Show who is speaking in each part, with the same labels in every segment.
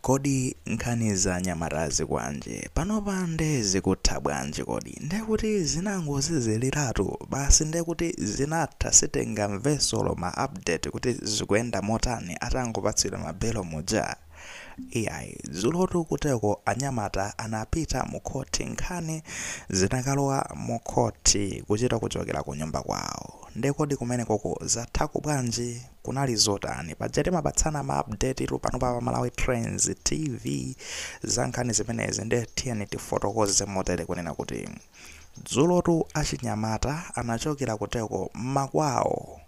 Speaker 1: Kodi nkhani za anyamata azikwanje? Panopa nde zikutha bwanji kodi? Ndekuti zinangoziziliratu basi ndekuti zinatha sitikumvanso olo ma update kuti zikuyenda motani atangopatsidwa ma belo muja? Iyayi dzulotu kuteko anyamata anapita mu court nkhani zinakalowa mu court kuchita kuchokera kunyumba kwawo. Nde kodi kumenekoko zathako bwanji? kunali zotani? Paja timapatsana ma update tu pano pa Malawi Trends TV za nkhani zimenezi nde tiyeni tifotokoze motere kunena kuti dzulotu achinyamata anachokera kuteko mmakwawo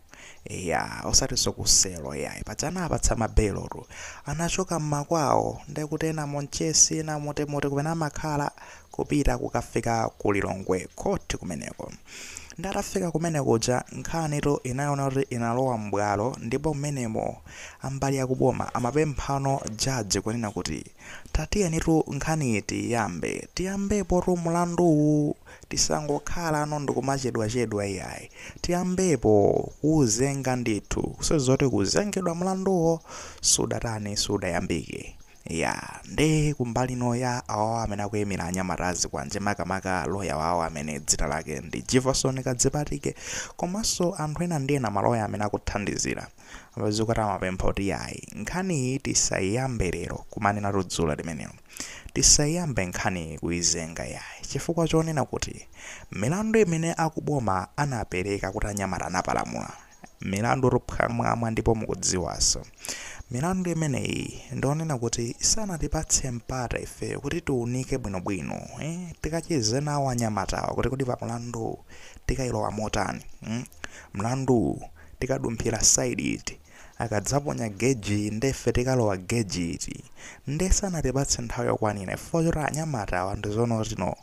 Speaker 1: ya osatinso kuselo yayi paja anawapatsa mabelo tu anachoka mmakwawo ndekuti ena monchesi ena motemote kumene amakhala kupita kukafika ku Lilongwe court kumeneko. Nde atafika kumene kuja nkhanitu inaoneka kuti inalowa m'bwalo ndipo mmenemo ambali ya kuboma amapemphano judge kunena kuti tatiyenitu nkhaniyi tiiyambe. Tiyambepotu mlanduwu tisangokhalano ndikumachedwachedwa iyayi. Tiyambepo kuuzenga ndithu. Sizoti kuzengedwa mlanduwo sudatani sudayambike. Eya nde kumbali ino ya awawa amene akuimira anyamata azikwanje makamaka loya wawo amene dzina lake ndi Jivason Kadzipatike komanso anthu ena ndi ena maloya amene akuthandizira azikwanje amapempha kuti yayi nkhaniyi tisaiyambe lero kumanenatu dzulo limenelo tisaiyambe nkhaniyi kuizenga yayi chifukwa chonena kuti milandu imene akuboma anapereka kuti anyamata anapalamula milandutu phwamwamwa ndipo mukudziwanso milandu imeneyi ndionena kuti sanatipatse mpata ifeyo kuti tiunike bwinobwino eh? tikacheze nawo anyamatawa kuti kodi pamulandu tikailowa motani mm? mlandu tikadumphira side iti akadzaponya geji ndefe tikalowa geji iti nde sanatipatse nthawi yokwanira chifukwa choti anyamatawa ndizoonatu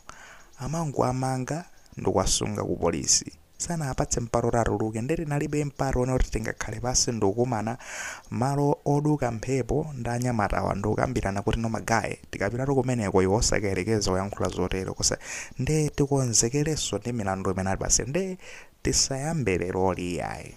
Speaker 1: amangoamanga ndikuwasunga ku polisi sanawapatse mpata oti atuluke nde tinalibe mpata wonena kuti tingakhale pansi ndikukumana malo oduka mphepo ndi anyamatawa ndikukambirana kuti no magaye tikapitatu kumeneko iwe osakayerekeza kuyankhula zotero kosa nde tikonzekerenso ndi milandu imene atipatsa nde tisayambe leroli iyayi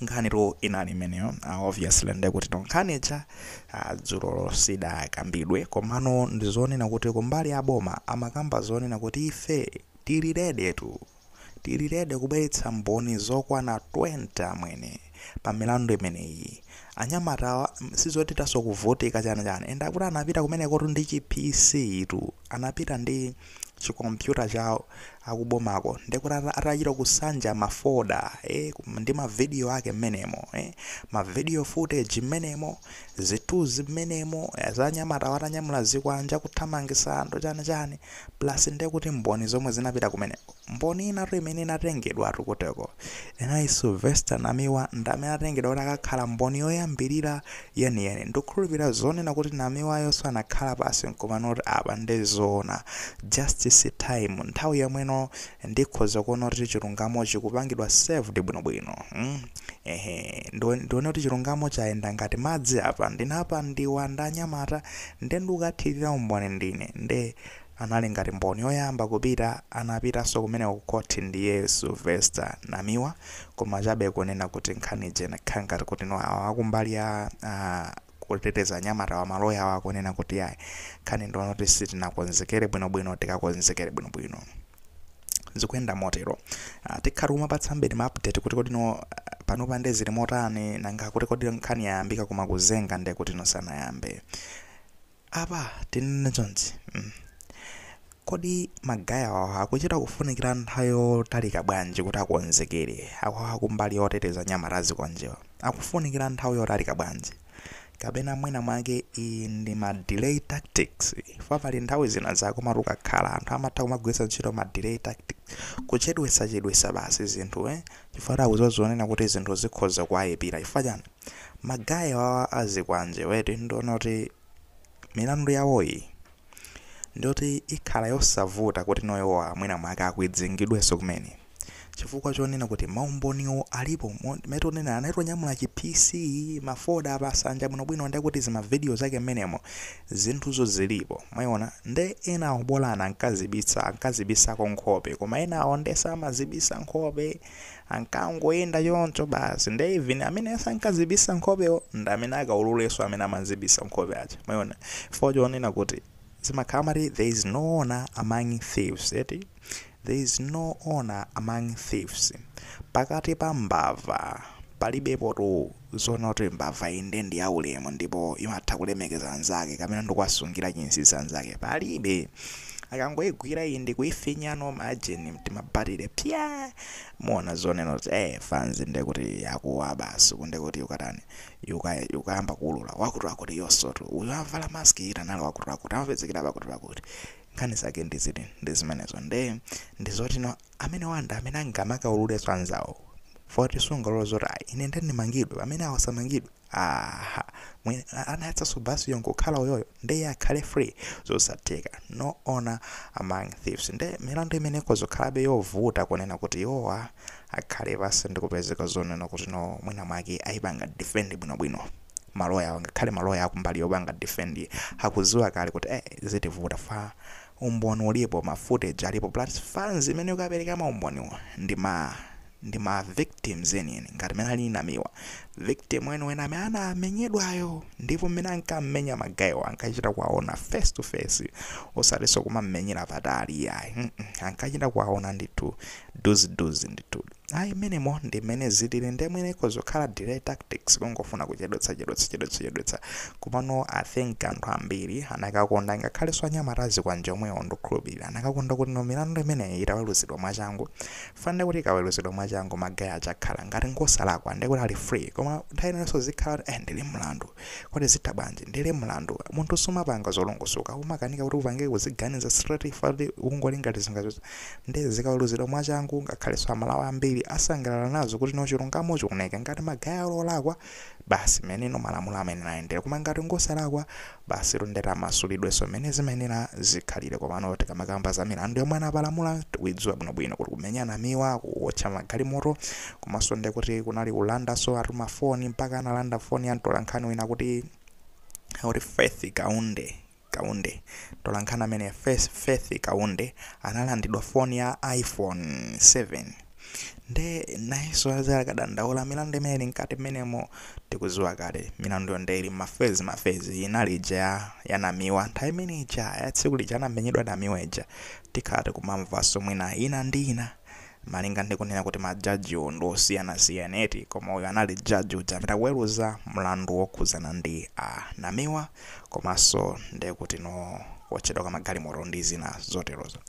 Speaker 1: nkhani tu inali imeneyo ah, obviously nde kuti nkhani ija ah, dzulolo sidakambidwe komano ndizonena kuti kumbali ya boma amakamba zonena kuti ife Tili ready tu. Tili ready kubweretsa mboni zokwana 20 amwene pa milandu imeneyi. Anyamatawa sizotinso kuvutika chani chani and kuti anapita kumenekotu ndi chi PC tu. Anapita ndi chi computer chawo akubomako ndekuti atachita kusanja ma folder eeh ndi ma video ake mmenemo eeh. Ma video footage mmenemo, zithuzi mmenemo za anyamatawa atanyamula zikwanje kuthamangisa anthu chani chani. plus nde kuti mboni zomwe zinapita kumeneko mboni inatu imene inatengedwatu kuteko ina ndi Sylvester Namiwa ndamene anatengedwa kuti akakhale mboni yoyambilira yeniyeni ndikukhulupilira zonena kuti Namiwayonso anakhala pasi nkumanena kuti apa nde zoona justice time nthawi yomweno ndikhoza kuona kuti chilungamo chikupangidwa served bwinobwino mm? ehe ndione kuti chilungamo chayenda ngati madzi apa ndinapandidwa ndanyamata Nde ndikukathilira umboni ndine nde anali ngati mboni yoyamba kupita anapitaso kumeneko ku court ndiye Sylvester Namiwa koma chabe kunena kuti nkhani ija inakhala ngati kuti no awa akumbali ya kuteteza anyamatawa ma lawyer awo akunena kuti yayi nkhani ndi yonena kuti sitinakonzekere bwino bwino tikakonzekere bwino bwino zikuyenda motero Ah, tikhala tikumapatsa mbiri ma update kuti kodi no panopa nde zili motani nanga kuti kodi nkhani yayambika koma kuzenga nde kuti no sanayambe apa tinene chonchi mm. kodi magaye awawa akuchita kufunikira nthawi yotalika bwanji kuti akonzekere awo akumbali yoteteza anyamata azikwanjewa akufunikira nthawi yotalika bwanji kapena mwina mwake iyi ndi ma delay tactics ifa pali nthawi zina zake mati ukakhala anthu amatha kumagwiritsa ntchito ma delay tactics kuchedwetsachedwetsa basi zinthu eh? chifukwa kuti akuziwa zonena kuti zinthu zikhoza kuwayipira chifukwa chani magaye awawa azikwanjewa eti ndiona kuti milandu yawoyi ndiyoti ikhala yosavuta kuti no iwowa mwina mwake akwidzingidwenso kumene chifukwa chonena kuti maumboniwo alipo mo- mmene tonena anatonyamula chi pc mafoda atasanja bwinobwino nde kuti zimavidiyo zake mmenemo zinthuzo zilipo mwaiona nde enawo bolani ankazibisa ankazibisako nkhope koma enawo nde samazibisa nkhope ankangoyenda choncho basi nde even amene sankazibisa nkhopewo ndi amene akaululenso amene amazibisa nkhope aja mwaiona chifukwa chonena kuti zimakhala mati there is no honor among thieves eti There is no honor among thieves, pakati pa mbava palibepotu zonena kuti mbava iyi nde ndi yaulemu ndipo imatha kulemekeza anzake kapena ndikuwasungira chinsinsi anzake palibe akangoigwira iyi ndikuifinya no majeni mtimabatire pya muona zonena kuti eh fanzi nde kuti yakuwa basi kunde kuti ikatani ika ikayamba kuulula wakuti wakuti yonsotu uyu avala mask uja anali wakuti wakuti amapezekera pakuti pakuti nkhani zake ndi ziti ndi zimenezo nde ndi zoti no amenewa ndi amene angamakaululenso anzawo foti sungalola zoti ayi ine nde ndimangidwe pamene awo samangidwe aha anayatsanso basiyo nkukhala uyoyo nde iye akhale free zosatheka no honor among thieves nde milandu imene ikhoza kukhalabe yovuta kunena kuti iwowa akhale basi ndikupezeka zonena kuti no mwina mwake ayipanga defend bwinobwino maloyawa ngakhale maloya akumbali yopanga defend akuziwa kale kuti eh zitivuta fa umboni ulipo ma footage alipo plus fans imene ikapereka ma umboniwo ndi ma ndi ma victims enieni ngati mene ali namiwa victim weniweni amene anamenyedwayo ndipo mmene ankammenya magayiwo ankachita kuwaona face to face osatiso kumammenyera patali yayi mm -mm. ankachita kuwaona ndithu pafupi ndithu Ayi mmenemo ndi mmene zitilili nde mwina ikhoza kukhala delay tactics kungofuna kuchedwetsa chedwetsa chedwetsa chedwetsa komano I think anthu ambiri anakakonda ngakhalenso anyamata azikwanje omwewo ndikukhulupirira anakakonda kuti no milandu imeneyi itaweluzidwa mwachangu fa nde kuti ikaweluzidwa mwachangu magayi aja akhala ngati ngosalakwa nde kuti ali free koma nthawi inanso zikhala kuti eh ndili mlandu kodi zitha bwanji ndili mlandu munthu sumapanga zolongosoka umakanika kuti upange uziganiza straight fa kuti ukungoti ngati zingazo Nde zikaweruzidwa mwachangu ngakhalenso a Malawi ambiri asangalala nazo kuti no chilungamo chioneke ngati magayi ali olakwa basi meneno malamulo amayenera ayendere koma ngati ngosalakwa basitu nde amasulidwenso mene zimayenera zikhalire komano tikamakamba za milandu yomwe anapalamula tikuidziwa bwinobwino kuti kumenya Namiwa kuotcha magalimoto komanso nde kuti kunali kulandanso anthu ma phone mpaka analanda phone ya mtolankhani wina akuti Faith Kaunde Kaunde. Mtolankhani ameneyu Faith Kaunde analandidwa foni ya iPhone 7 nde nayenso azakadandaula milandu imene ili mkati mmenemo tikuziwa kale milanduyo nde ili mmafezi mafezi inali ija ya, ya namiwa nthawi imene ija ya tsiku lija anamenyedwa namiwa ija tikhala tikumamvanso mwina ina ndi ina Malinga ndi kunena kuti ma judge wo ndi osiyanasiyana eti, koma uyu anali judge uja amene akuweluza mlandu wokhudzana ndi a Namiwa komanso nde kuti no kuotchedwa kwa magalimoto ndi zina zoterozo.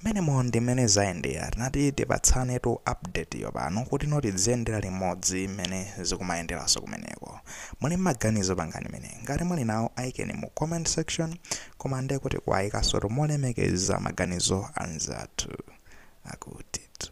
Speaker 1: Mmenemo ndi mmene zayendera. Tinati tipatsanetu update yo pano kuti no tidziyendera limodzi mmene zikumayenderanso kumeneko. Muli mmaganizo pangani mene. Ngati muli nawo aikeni mu comment section. koma nde kuti kuwayikasotu molemekeza maganizo anzathu akutitu.